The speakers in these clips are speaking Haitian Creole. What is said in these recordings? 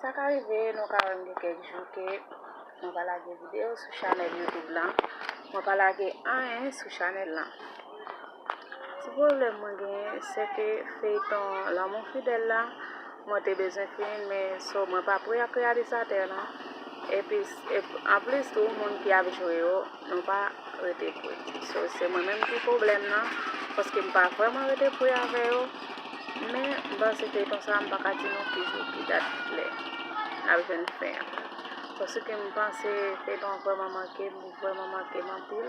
Sa ka rive nou ka wèm gen kèk jou ke mwen pa lage video sou chanèl youtube lan, mwen pa lage anyen sou chanèl lan. Ti pwoblèm mwen genyen se ke feyton lanmou fidèl la mwen te bezwen fini men so mwen pa pre ak reyalizatè lan epi anplis tou moun ki ap jwe yo Nou pa rete pri. So se mwen menm ki pwoblèm nan paske m pa vrèman rete pri avè yo. Men m panse feyton sa m pa ka di nou ki jou, ki dat, ki lè n ap jwenn fen an. Paske m panse feyton an vrèman manke m, li vrèman manke m anpil.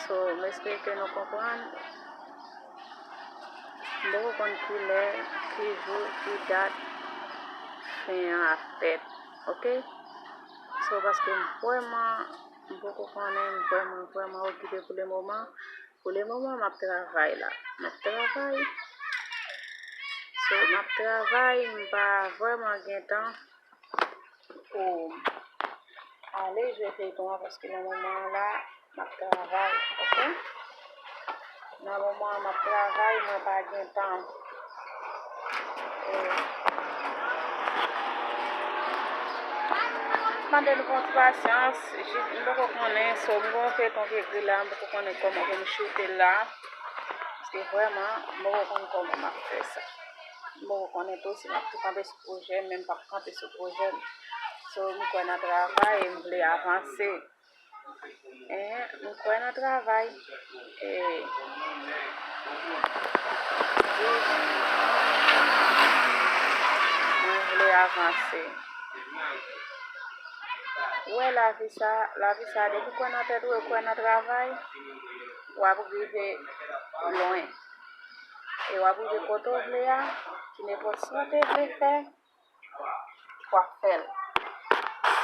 So m espere ke nou konprann. M poko konn ki lè, ki jou, ki dat fen an ap fèt. Ok. So paske m vrèman m poko konnen m vrèman vrèman okipe pou le moman pou le moman map travay la map travay so map travay m pa vrèman gen tan pou ale jwe feyton an paske nan moman an la Map travay ok. Nan moman an map travay mwen pa gen tan. Mande nou konn pasyans jis m poko konnen so m gon feyton ki ekri la m poko konnen koman pou m choute l la paske vrèman m poko konn koman map fè sa m poko konnen tou si map tou kanpe sou pwojè m menm m pap kanpe sou pwojè m so m kwè nan travay e m vle avanse. Mwen kwè nan travay. Mwen vle avanse. Wè lavi sa, lavi sa depi kwè nan tèt ou e kwè nan travay, wap rive lwen. E wap rive kote ou vle a, ki nenpòt sa ou te vle fè. Wap fèl.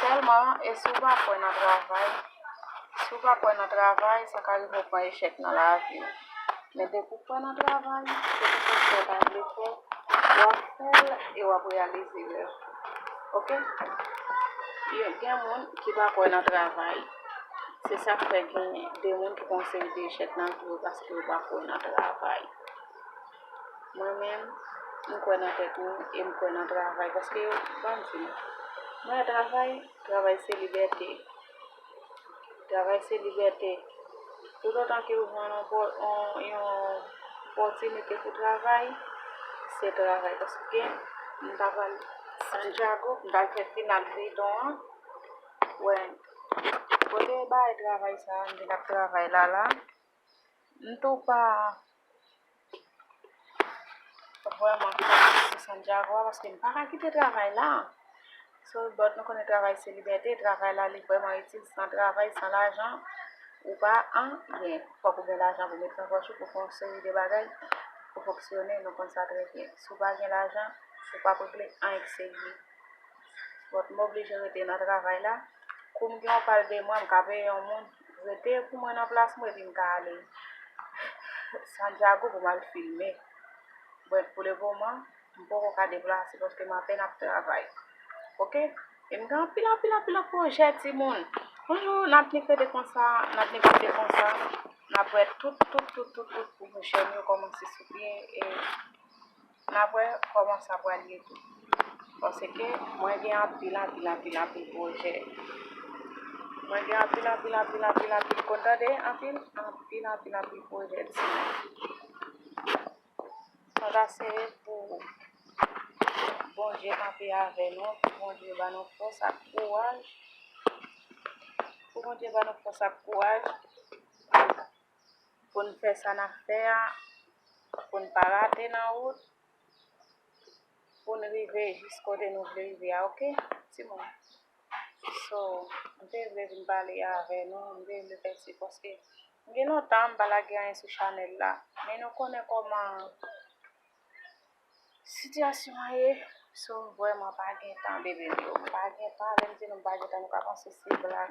Sèlman e si w pa kwè nan travay, si w pa kwè nan travay sa ka rive w pran echèk nan lavi w. Men depi w kwè nan travay, kèlkeswa sa w ta vle fè, wap fèl e wap reyalize rèv ou. Ok. Yo gen moun ki pa kwè nan travay. Se sak fè gen de moun ki pran seri de echèk nan vi yo paske yo pa kwè nan travay. Mwen menm, m kwè nan tèt mwen e m kwè nan travay paske yo ba m di mwen a travay, travay se libète. Travay se libète. Toutotan ke ou jwenn yon opòtinite pou travay, se travay. Paske m ta pral Santiago, m ta fè final feyton an, wè kote yo bay travay sa a, m vin ap travay la la. M tou pa vrèman konprann Santiago a paske m pa ka kite travay la. Sou lòt bò nou konnen travay se libète, travay la li vrèman itil. San travay, san lajan, ou pa anyen. Fòk ou gen lajan pou mete nan pòch ou pou fè yon seri de bagay pou fonksyone, nou konn sa trè byen. Si w pa gen lajan, ou p ap regle anyen ki serye. Donk m oblije rete nan travay la. Kou m gen yon pal de mwa, m ka peye yon moun. Rete pou mwen nan plas mwen epi m ka ale Santiago pou m al filme. But pou le moman, m poko ka deplase paske m apèn ap travay. Ok? E m gen anpil anpil anpil lòt pwojè timoun. Bonjou, n ap nik rete konsa, n ap nik kite konsa. N ap wè tout tout tout tout tout pou jèn yo kòmanse sou pye e. Nap wè kòman sa pral ye tou. Paske mwen gen anpil anpil anpil anpil pwojè. Mwen gen anpil anpil anpil anpil anpil ko tande anpil anpil anpil anpil pwojè ti moun. Mwen va seye pou Bondye kanpe avè nou, pou Bondye ban nou fòs ak kouraj, pou Bondye ban nou fòs ak kouraj. pou n fè sa n ap fè a, pou n pa rate nan wout, pou n rive jis kote nou vle rive a ok timoun so m te vle vin pale avè nou m te vle fè si paske m gen lontan m pa lage anyen sou chanèl la men nou konnen kòman Sitiyasyon an ye, si w vrèman pa gen tan bebe m yo, m pa gen tan, lè m di nou m pa gen tan nou ka panse se blag,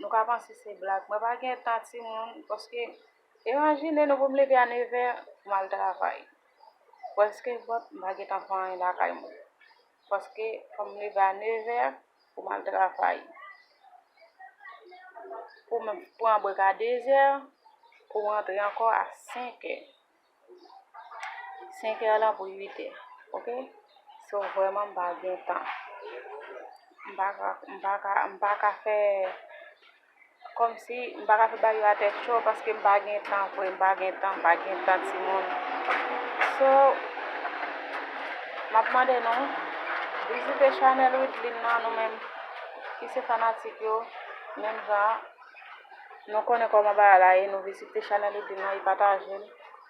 nou ka panse se blag, mwen pa gen tan timoun paske imajine nou pou m leve a nevè pou m al travay, prèske vant m pa gen tan fè anyen lakay mwen paske fò m leve a nevè pou m al travay, pou m pran brek a dezè pou m rantre ankò a senkè. 5 è lan pou 8 è ok so vrèman m pa gen tan m pa ka m pa ka m pa ka fè kòmsi m pa ka fè bagay yo a tèt cho paske m pa gen tan vre m pa gen tan m pa gen tan timoun so m ap mande nou vizite chanèl widline nan nou menm ki se fanatik yo menm jan Nou konnen koman bagay la ye nou vizite chanel youtube mwen e pataje l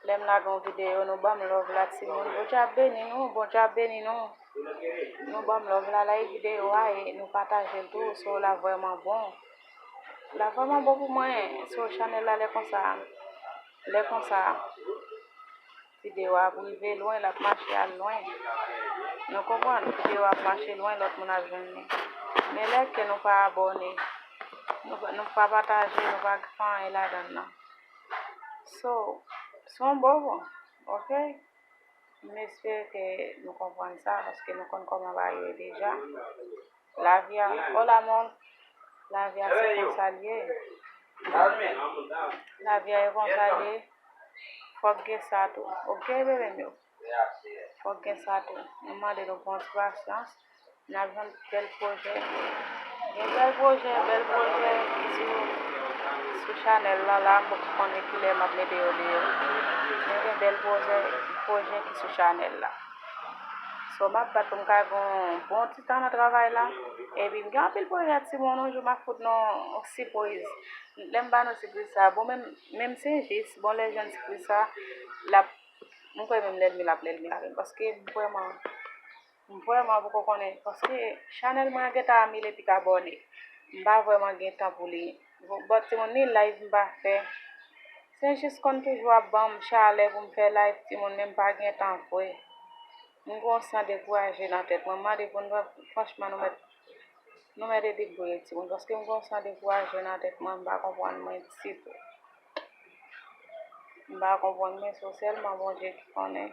lèm lage yon video nou banm love la ti moun bondye ap beni nou bondye ap beni nou nou banm love la like video a e nou pataje l tou show la vrèman bon la vrèman bon pou mwen show chanel la lè konsa lè konsa. Video a ap rive lwen lap mache al lwen nou konprann video a ap mache lwen lòt moun ap jwenn li men lè ke nou pa abòne nou pa pataje nou pa fè anyen ladann nan so son bobo ok m espere ke nou konprann sa paske nou konn kòman bagay yo ye deja Lavi a o la mò lavi a se konsa l ye lavi a e konsa l ye fòk gen sa tou ok bebe m yo fòk gen sa tou nou mande nou bon ti pasyans n ap jwenn bèl pwojè gen bèl pwojè bèl pwojè sou sou chanèl lan la m poko konnen kilè m ap mete yo deyò men gen bèl pwojè pwojè ki sou chanèl la. So map bat pou m ka gen yon bon ti tan nan travay la. Epi m gen anpil pwojè ak ti moun yon jou map fout nou yon sipriz. Lè m ba nou sipriz sa bon menm menm se jis bon lè jwenn sipriz sa lap m kwè menm lèlmi l ap lèlmi avè m paske m vrèman m vrèman poko konnen paske chanèl mwen an gentan a mil epi k abòne m pa vrèman gen tan pou li. Bon but se yon ni live mpa fè. Saint Just konn toujou ap banm chalè poum fè live timoun men mpa gen tan vre. M gon san dekouraje nan tèt mwen. M mande pou nou franchman nou mèt nou mèt ede Boyé timoun paske m gon san dekouraje nan tèt mwen mpa konprann mwen ditou. Mpa konprann mwen so sèlman Bondye ki konnen.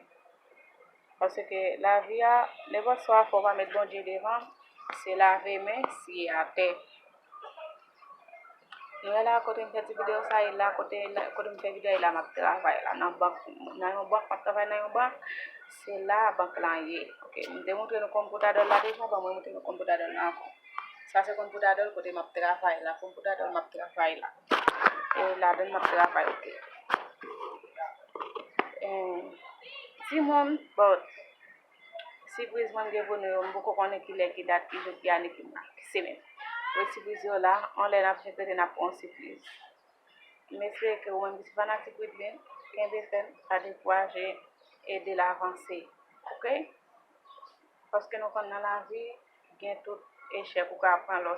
Paske lavi a nenpòt swa fò w pa met Bondye devan se lave men siye atè. Nou wè la kote m fè ti video sa e la kote m fè video a e la map travay la nan bank nan yon bank map travay nan yon bank se la bank lan ye ok m te montre nou konpwoutadòl la deja bon mwen montre nou konpwoutadòl la ankò sa se konpwoutadòl kote map travay la konpwoutadòl map travay la e ladann map travay ok. Timoun, bon, sipriz mwen gen pou nou yo, m poko konnen ki lè, ki dat, ki jou, ki ane, ki mwa, ki semenn. Bon, sipriz yo la, yon lè n ap fete, n ap pran yon sipriz. M espere ke ou menm ki se fanatik Widley, kenbe fèm, pa dekouraje, ede l avanse. Ok? Paske nou konn nan lavi, gen tout echèk ou ka pran lè w.